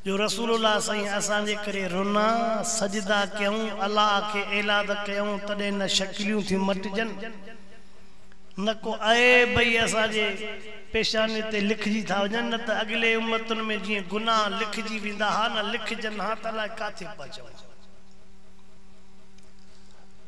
جو رسول الله سائين اسان جي ڪري رنا، سجدا، ڪيون، الله کي ايلاد ڪيون تڏهن نه شڪليون ٿيون مٽجن نه ڪو عيب ئي اسان جي پيشاني تي لکجي ٿا وڃن نه ته اڳلي امتن ۾ جيئن گناهه لکجي ويندا ها نه لکجن ها ته الاء ڪاٿي پهچون ها.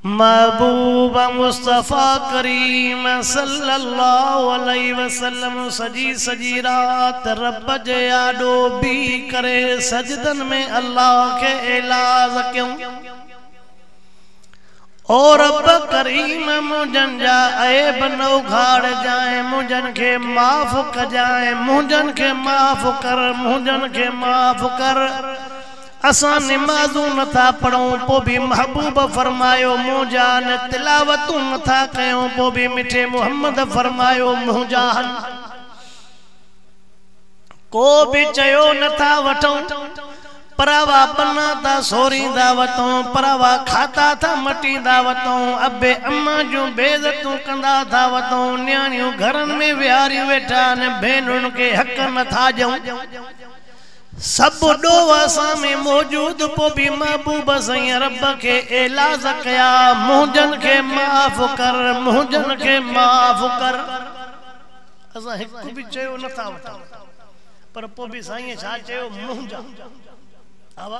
محبوب مصطفيٰ ڪريم صلّي اللّٰه عليه وسلّم سڄي سڄي رات ربّ جي آڏو بيهي ڪري سجدن ۾ الله کي ايلاز ڪيون، او ربّ ڪريم! منهنجن جا عيب نه اگهاڙجانء، منهنجن کي معاف ڪجانء، منهنجن کي معاف ڪر، منهنجن کي معاف ڪر. اسان نمازون نه ٿا پڙهون پوء به محبوب فرمايو منهنجان تلاوتون نه ٿا ڪيون پوء به مٺي محمد فرمايو منهنجان ڪو به چيو نه ٿا وٺون پر اوا بنا ٿا سوريندا وتون پر اوا کاتا ٿا مٽيندا وتون ابي اما جون بي عزتون ڪندا ٿا وتون نياڻيون گهرن ۾ ويهاريون ويٺا آهن ڀينرن کي حق نه ٿا ڏيون سڀ ڏوهه اسان ۾ موجود پوء به محبوب سائين رب کي ايلاز ڪيا منهنجن کي معاف ڪر منهنجن کي معاف ڪر اسان هڪ به چيو نه ٿا وٺون پر پوء به سائين ڇا چيو منهنجا آوا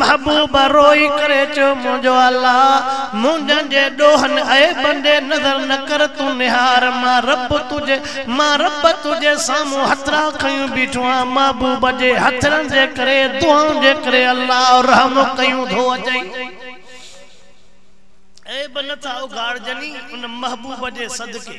محبوب روئي ڪري چيو منهنجو الله! منهنجن جي ڏوهن ۽ عيبن ڏي نظر نه ڪر، تون نهار مان رب تنهنجي مان رب تنهنجي سامهون هٿڙا کنيون بيٺو آهيان، محبوب جي هٿڙن جي ڪري، دعائن جي ڪري الله رحم ڪيون ٿو اچئي. عيب نه ٿا اگهاڙجني ان محبوب جي صدقي.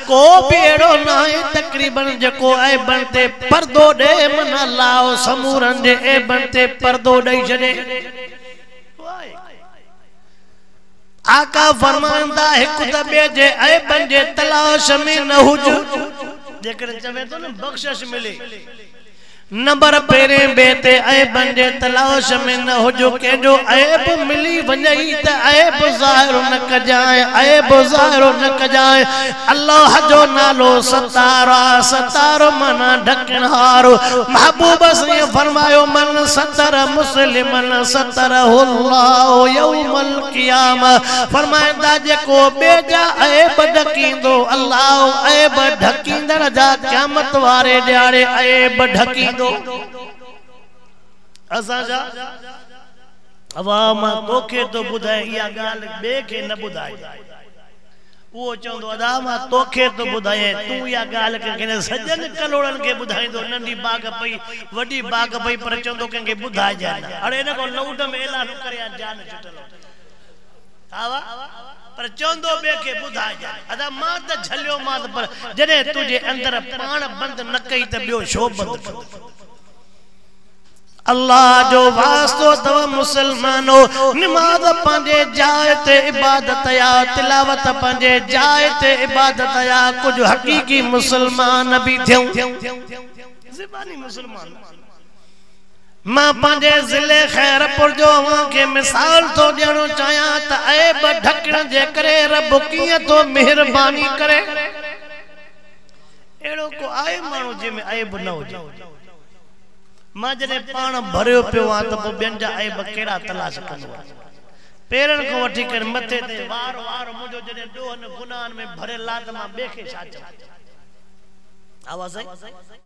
ڪو به اهڙو ناهي تقريباً جيڪو عيبن تي پردو ڏئي من الله او سمورن جي عيبن تي پردو ڏئي ڇڏي. آقا فرمائن ٿا هڪ ته ٻئي جي عيبن جي تلاش ۾ نه هج. جيڪڏهن چوي ٿو نه بخشش ملي. نمبر پهرين بيت تي عيبن جي تلاش ۾ نه هج، ڪنهنجو عيب ملي وڃئي ته عيب ظاهر نه ڪجانء، عيب ظاهر نه ڪجانء، الله جو نالو ستار آ، ستار معنيٰ ڍڪڻهار، محبوب سائين فرمايو، من ستر مسلما ستره الله يوم القيامة، فرمائن ٿا جيڪو ٻئي جا عيب ڍڪيندو الله عيب ڍڪ. ڪيندڙ جا قيامت واري ڏياڙي عيب ڍڪيندو. اسان جا واهه مان توکي ٿو ٻڌائي اها ڳالهه ٻئي کي نه ٻڌائجي. اهو چوندو ادا مان توکي ٿو ٻڌايئين تون اها ڳالهه ڪنهن کي نه سڄن ڪلهوڙن کي ٻڌائيندو ننڍي باگهه پئي وڏي باگهه پئي پر چوندو ڪنهن کي ٻڌائجانء نه اڙي ان کان لئوڊ ۾ اعلان ڪريان جان ڇٽل هجي. آوا پر چوندو ٻئي کي ٻڌائجان ادا مان ته جهليومانس پر جڏهن تنهنجي اندر پاڻ بند نه ڪئي ته ٻيو ڇو بند ڪندو. الله جو واسطو اٿو مسلمانو نماز پنهنجي جاء تي عبادت آ تلاوت پنهنجي جاء تي عبادت آ ڪجهه حقيقي مسلمان به ٿيون زباني مسلمان مان پنهنجي ضلعي خيرپور جو اوهان کي مثال ٿو ڏيڻ چاهيان ته عيب ڍڪڻ جي ڪري رب ڪيئن ٿو مهرباني ڪري. اهڙو ڪو آهي ماڻهو جنهن ۾ عيب نه هجي. مان جڏهن پاڻ ڀريو پيو هئان ته پوء ٻين جا عيب ڪهڙا تلاش ڪندو هئس. پيرن کان وٺي ڪري مٿي تائين وار وار منهنجو جڏهن ڏوهن گناهن ۾ ڀريل آ ته مان ٻئي کي ڇا چوان. ها سائين!